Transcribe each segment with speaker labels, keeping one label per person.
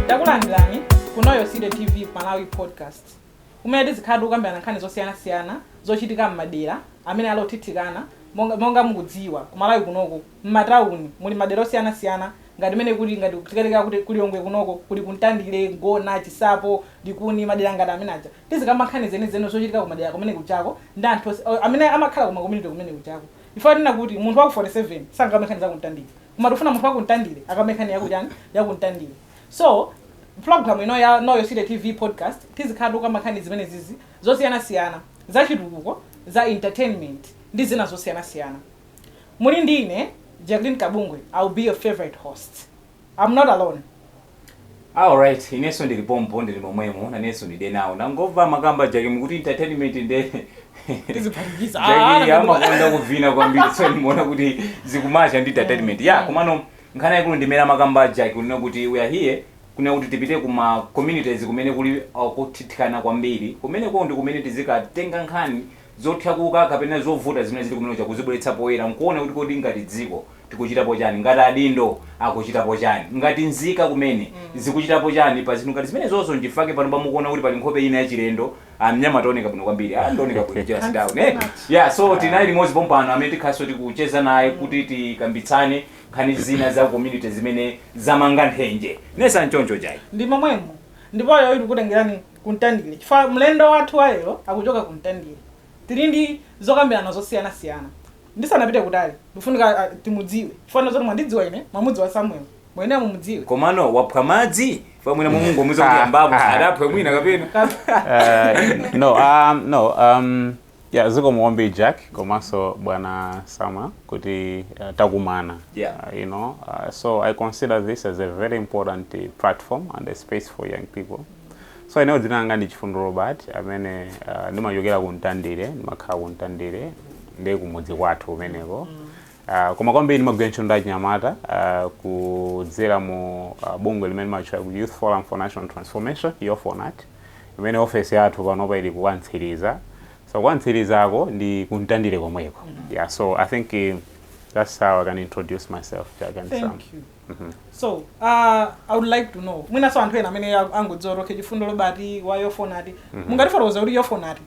Speaker 1: takulandirani ku Know Your City TV malawi podcast kumene tizikhala tikukambirana nkhani zosiyanasiyana zochitika m'madera amene ali othithikana monga mukudziwa ku malawi kunoko m'matawuni muli madera osiyanasiyana ngati mene kuli ngati titatenga kuti ku Lilongwe kunoko kuli ku Mtandire ngona Chinsapo likuni madera ngati amene aja tizikamba nkhani zenizeni zochitika ku madera kumene kujako ndi anthu amene amakhala ku ma community kumene kujako Chifukwa tinena kuti munthu waku 47 sangakambe nkhani za ku Mtandire. Koma tikufuna munthu waku Mtandire akambe nkhani yaku chani? Yaku Mtandire. So, program ino Know Your City TV podcast tizikhala tikukamba nkhani zimenezizi zosiyana siyana. Za chitukuko, za entertainment ndi zina zosiyana siyana. Muli ndi ine, Jacqueline Kabungwe, I will be your favorite host. I'm not alone.
Speaker 2: alright inenso ndili pompo ndili momwemo nanenso ndide nawo ndangomva amakamba Jack kuti entertainment nde
Speaker 1: Tiziphatikiza. Ah, Jack
Speaker 2: amakonda kuvina kwambiri so ndimaona kuti zikumacha ndi entertainment yeah komano nkhani yaikulu ndimene amakamba Jack kunena kuti we are here kunena kuti tipite kuma communities kumene kuli uh, kuthithikana kwambiri kumeneko ndi kumene tizikatenga nkhani zotakasuka kapena zovuta zimene zili kumene kuja kuzibweretsa poyera nkuona kuti kodi ngati dziko tikuchitapo chani? Ngati adindo akuchitapo chani? Ngati nzika kumene zikuchitapo chani pa zinthu ngati zimenezozo? Nchifukwa-ke panopa mukuona kuti pali nkhope ina yachilendo. Ah, mnyamata ooneka bwino kwambiri. Ah, ndi ooneka bwino, jealous Thank you down, so eh? much. Yeah, so tinaye limodzi pompano amene tikhalenso tikucheza naye kuti tikambitsane nkhani zina za community zimene zamanga nthenje. Nde sinchoncho Jack. ndi
Speaker 1: momwemo ndipo lero tikutengerani kumtandire chifukwa mlendo wathu wa lero akuchoka kumtandire tili ndi zokambirana zosiyanasiyana Ndisanapite kutali, ikufunika timudziwe chifukwa nde zoti mwandidziwa ine, mwamudziwa Samuel, mwayenera mumudziwe. Komano waphwa madzi?
Speaker 2: Chifukwa mwina mwangomuuza kuti yambapo, adaphwa mwina kapena? Uh, no, um, no,
Speaker 3: um, yeah, zikomo kwambiri Jack komanso bwana Samuel kuti uh, takumana Yeah. uh, you know uh, so I consider this as a very important uh, platform and a space for young people So ineyo dzina langa ndi Chifundo Robert amene uh, ndimachokera ku Mtandire, ndimakhala ku Mtandire ndi kumudzi kwathu kumeneko. Uh, koma kwambiri ndimagwira ntchito ndi achinyamata uh, kudzera mu uh, bungwe limene limatchulidwa kuti Youth Forum for National Transformation, YOFONAT, imene ofesi yathu panopa ili ku Mtsiriza. So ku Mtsirizako ndi ku Mtandire komweko. Yeah, so I think uh, that's how I can introduce myself. Jack and Sam. Thank you.
Speaker 1: so uh, i would like to know mwinaso anthu ena amene angodziwa okay Chifundo Robert wa YOFONAT mungatifotokozere kuti YOFONAT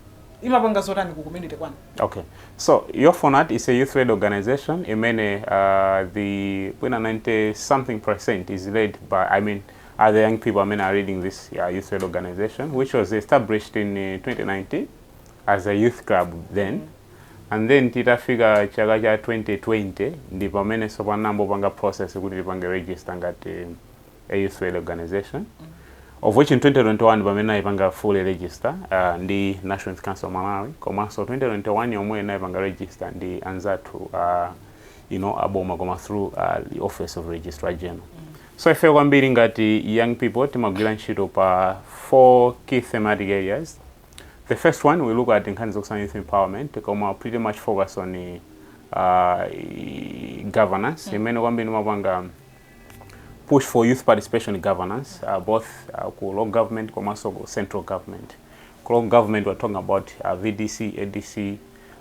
Speaker 1: imapanga zotani ku community kwanu Okay. So
Speaker 3: YOFONAT is a youth led organization. Imene uh, the 90 something percent is led by I mean the young people amene are leading this uh, youth led organization, which was established in uh, 2019 as a youth club then. and then titafika chaka cha 2020 ndi pamene sopano anayamba kupanga process kuti tipange register ngati a youth led organization of which in 2021 pamene tinaipanga fully register uh, ndi national Youth council of malawi komanso 2021 yomweyo tinaipanga register ndi anzathu uh, you know, aboma koma through uh, the office of registrar general so ife kwambiri ngati young people timagwira ntchito pa four key thematic areas The first one we look at nkhani zokusana youth empowerment koma pretty much focus on uh, governance mm. imene kwambiri mapanga push for youth participation governance uh, both uh, ku local government komanso ku central government ku local government we're talking about uh, vdc adc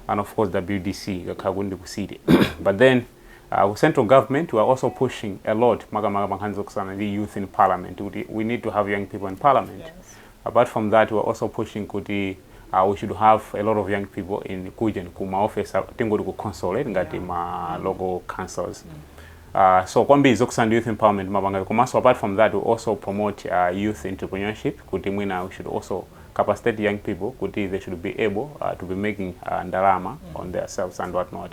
Speaker 3: and of course wdc kakhala kundi ku city but then uh, ku central government we're also pushing a lot makamaka pa nkhani zokusana ndi youth in parliament kuti we need to have young people in parliament yes. Apart from that we're also pushing kuti uh, we should have a lot of young people in kujen ku ma office tingoti ku council eh, ngati ma local councils uh, so kwambiri zokhudzana ndi youth empowerment timapanga komanso apart from that we also promote uh, youth entrepreneurship kuti mwina we should also capacitate young people kuti they should be able uh, to be making uh, ndalama on their selves and what not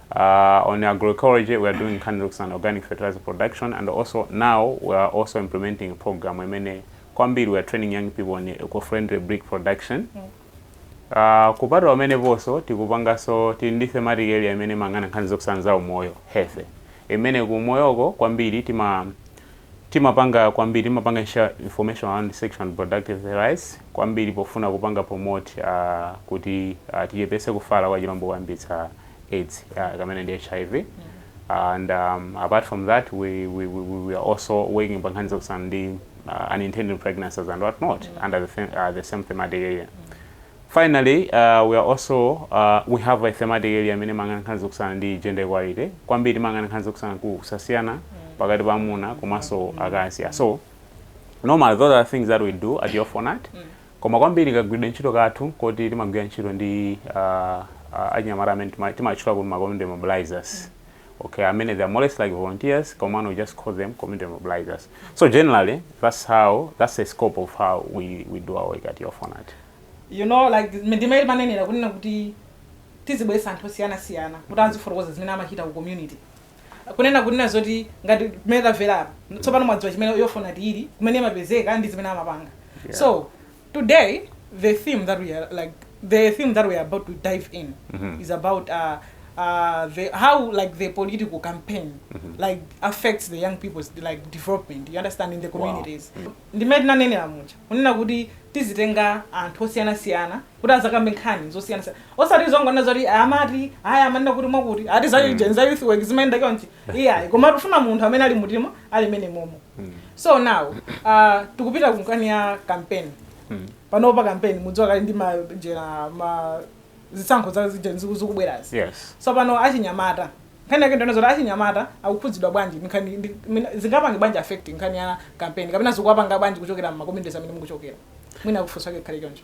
Speaker 3: On agroecology we are doing nkhani zokhudzana organic fertilizer production and also now we are also implementing program imene kwambiri we are training young people on eco-friendly brick production Uh, kupatula pameneponso tikupanganso tili ndi thematic area imene imayang'ana nkhani zokhudzana za umoyo health imene ku umoyoko kwambiri tima timapanga kwambiri timapanga share information around sexual and reproductive rights kwambiri pofuna kupanga promote uh, kuti uh, tichepese kufala kwa kachilombo koyambitsa aids uh, kamene ndi hiv and um, apart from that we, we, we, we- we are also working pa nkhani zokhudzana ndi uh, unintended pregnancies and what not under the, them- uh, the same thematic area finally uh, we are also uh, we have a thematic area imene imayang'ana nkhani zokhudzana ndi gender equality kwambiri imayang'ana nkhani zokhudzana ku kusasiyana pakati pa amuna komanso akazi Yeah, so normally those are things that we do at YOFONAT Koma kwambiri kagwiridwe ntchito kathu nkoti timagwira ntchito ndi a a achinyamata amene tima timatchula kuti ma community mobilizers okay amene they are more or less like volunteers komano we just call them community mobilizers so generally that's how that's the scope of how we we do our work at YOFONAT. you
Speaker 1: know like ndi mmene timanenera muja kunena kuti tizibweretsa anthu osiyanasiyana kuti azifotokoza zimene amachita ku community. kunena kunena zoti ngati mmene tamvera apa tsopano mwadziwa chimene YOFONAT ili kumene imapezeka ndi zimene amapanga yeah. so today the theme that we are like the theme that we are about to dive in mm -hmm. is about uh, uh, the how like the political campaign mm -hmm. like affects the young people's like development you understand in the communities wow. mm -hmm. ndi mmene tinanenera muja kunena kuti tizitenga anthu osiyanasiyana kuti adzakambe nkhani zosiyanasiyana osati zongonena zoti amati aya amanena kuti mwakuti ati za mm. za youth work zimayenda chonchi iyayi koma tikufuna munthu amene ali mutima ali mene momo mm. so now uh, tikupita ku nkhani ya campaign mm. panopa campaign mudziwa kali ndi ma general ma zisankho za zikubwerazi yes. so
Speaker 3: pano
Speaker 1: achinyamata nkhani yake ndi yonena zoti achinyamata akukhudzidwa bwanji zingapange bwanji affect nkhani ya campaign kapena zikuwapanga bwanji kuchokera m'ma communities amene mukuchokera mwina mafunso ake akhale choncho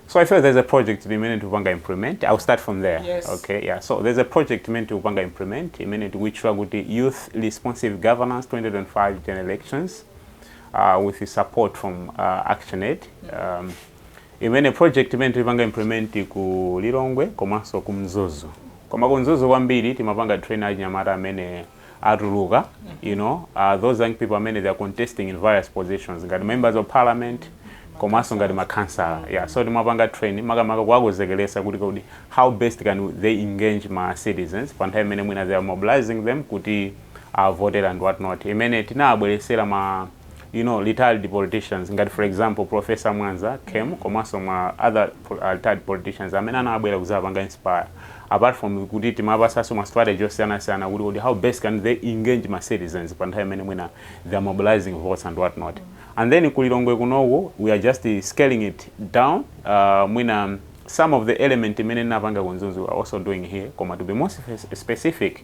Speaker 3: So I feel there's a project imene tikupanga implement. I'll start from there. Yes. Okay, yeah.
Speaker 1: So there's
Speaker 3: a project imene tikupanga implement imene tikuitchula kuti Youth Responsive Governance 2025 General Elections uh, with the support from uh, ActionAid. Um, imeneyo project imene tipanga implement ku Lilongwe komanso ku Mzuzu. Koma ku Mzuzu kwambiri timawapanga train achinyamata amene atuluka you know uh, those young people amene they are contesting in various positions ngati members of parliament komanso ngati makhansala yeah so timawapanga train makamaka kuwakonzekeretsa kuti kodi how best can they engage ma citizens pa nthawi imene mwina they are mobilizing them kuti avote and what not imene tinabweresera ma you know retired politicians ngati for example professor mwanza came komanso ma other po- uh, retired politicians amene anabwera kuzapanga inspire apart from kuti timawapasaso ma strategy osiyanasiyana kuti kodi how best can they engage ma citizens pa nthawi imene mwina they are mobilizing votes and what not and then kulilongwe kunoku we are just uh, scaling it down uh, mwina some of the elements imene tinapanga ku mzuzu we are also doing here koma to be more spe- specific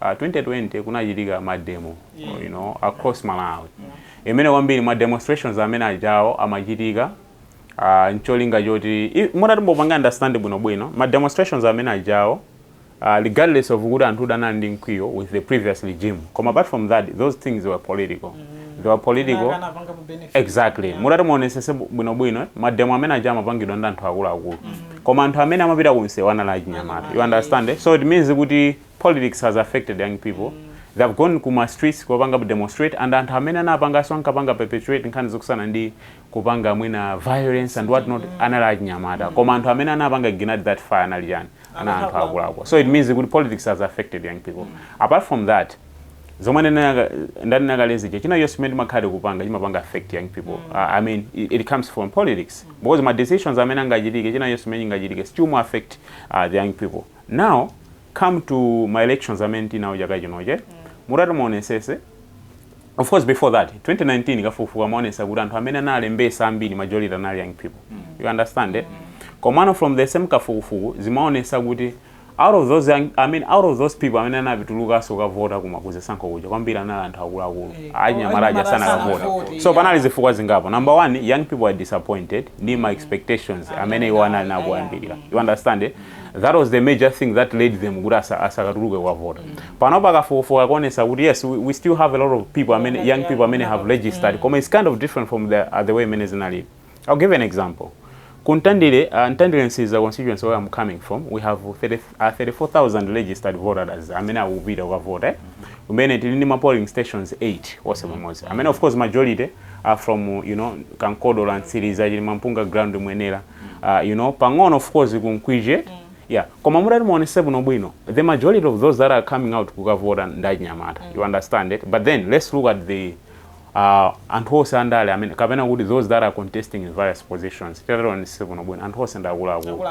Speaker 3: 2020 kunachitika ma demo you know across Malawi imene kwambiri ma demonstrations amene ajawo amachitika uh, ncholinga choti i- mutati mupanga understand bwino bwino ma demonstrations amene ajawo uh, regardless of kuti anthu anali ndi mkwiyo with the previous regime koma apart from that those things were political they were political Akanapanga kuti benefit. exactly Yeah. mutati muonesese bwinobwino mademo amene aja amapangidwa ndi anthu akuluakulu koma anthu amene amapita kunsewu anali achinyamata you understand eh? so it means kuti Politics has affected young people, they have gone ku ma streets kukapanga demonstrate and anthu amene anapanganso ankapanga perpetuate nkhani zokhudzana ndi kupanga mwina violence and what not anali achinyamata koma anthu amene anapanga ignite that fire anali ndani anali anthu akuluakulu so it means kuti politics has affected young people apart from that zomwe ndinaka- ndanena kale zija china chonse chimene timakhala tikupanga chimapanga affect young people uh, i mean it, it comes from politics because ma decisions amene angachitike china chonse chimene chingachitike still chima affect uh, the young people Now come to ma elections amene tinawo chaka chinochi mutati muonesese of course before that 2019 kafukufuku amaonesa kuti anthu amene analembesa ambiri majority anali young people you understand eh? komano from the same kafukufuku zimaonesa kuti out of those young, I mean, out of those people amene anapi- anatulukanso kukavota kuma kuzisankho kuja kwambiri anali anthu akuluakulu Eh, anyamata aja anyamata sanakavota sanavote, so yeah. panali zifukwa zingapo number one young people are disappointed ndi ma expectations amene iwo anali nawo kumayambiriro you understand eh? that was the major thing that led them kuti asa, asakatuluke kukavota mm. pano pakafukufuka kuonesa kuti yes we, we still have a lot of people amene, young people amene have registered mm. koma it's kind of different from the, uh, the way imene zinalili i'll give an example ku ntandire uh, ntandire ntsiriza constituency where i'm coming from we have 30, uh, 34000 registered voters amene akupita kukavota eh? mm -hmm. kumene tili ndi ma polling stations 8 onse pamodzi amene of course majority are from you know kankodola ntsiriza chili mampunga ground mwenera uh, you know pang'ono of course kunkwije mm. yeah koma mutati muonese bwino bwino the majority of those that are coming out kukavota ndi achinyamata mm. you understand it but then let's look at the uh, anthu onse andale amene kapena kuti those that are contesting in various positions tataonese bwino bwino anthu onse ndi akuluakulu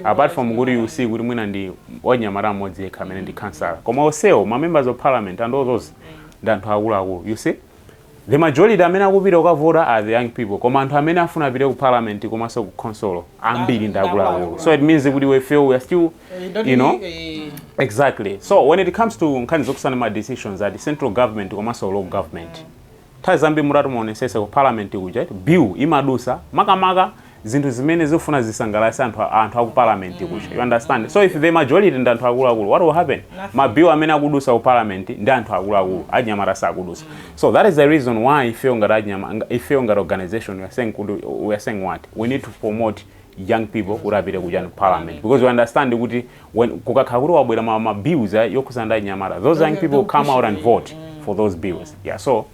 Speaker 3: apart from kuti you see kuti mwina ndi wachinyamata mmodzi yekha amene ndi mm. kansala koma onsewo ma members of parliament and all those mm. ndi anthu akuluakulu you see The majority amene akupita kukavota are the young people koma anthu amene afuna apite ku parliament komanso ku khonsolo ambiri ndi akuluakulu so it means kuti we feel we are still you know exactly so when it comes to nkhani zokhuzana ma decisions at central government komanso local government nthawi zambiri mutati muonesese ku parliament kuja bill imadusa makamaka zinthu zimene zikufuna zisangalatse anthu aku parliament kuja you understand so if the majority ndi anthu akuluakulu what will happen ma bill amene akudusa ku parliament ndi anthu akuluakulu achinyamata sakudusa so that is the reason why ifeyo ngati achinyama nga- ifeyo ngati organization we are saying kuti we are saying what we need to promote young people kuti apite kuja ku parliament because we understand kuti when kukakhala kuti wabwera ma, ma bills eh, yokhuzana ndi achinyamata those young people will come out and vote for those bills yeah so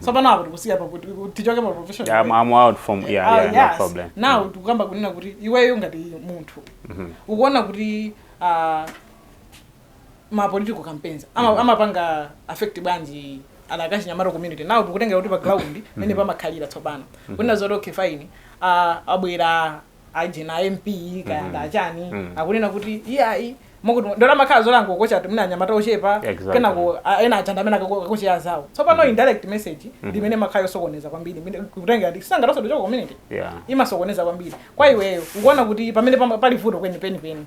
Speaker 1: tsopano apo tikusiya pa kuti tichoke pa profession Yeah, I'm, I'm out from
Speaker 3: yeah, Ah, yeah, no yes. problem. now tikukamba kunena
Speaker 1: kuti iweyo ngati munthu ukuona kuti ah, ma political campaigns ama- amapanga affect bwanji adakali achinyamata community now tikutengera kuti pa ground mene pamakhalira tsopano kunena zoti okay fine ah, abwera aujeni a mp kaya mm. ndachani mm. akunena kuti iyayi mokuti ndona makhala zolango kocha mwina anyamata ochepa exactly. kenako ena achanda mena kocha ya anzawo tsopano mm. indirect message mm -hmm. ndi imene imakhala yosokoneza kwambiri kutenga ndi sanga tosa docho ku community yeah. imasokoneza kwambiri kwa iweyo ukuona kuti pamene pali vuto kweni penipeni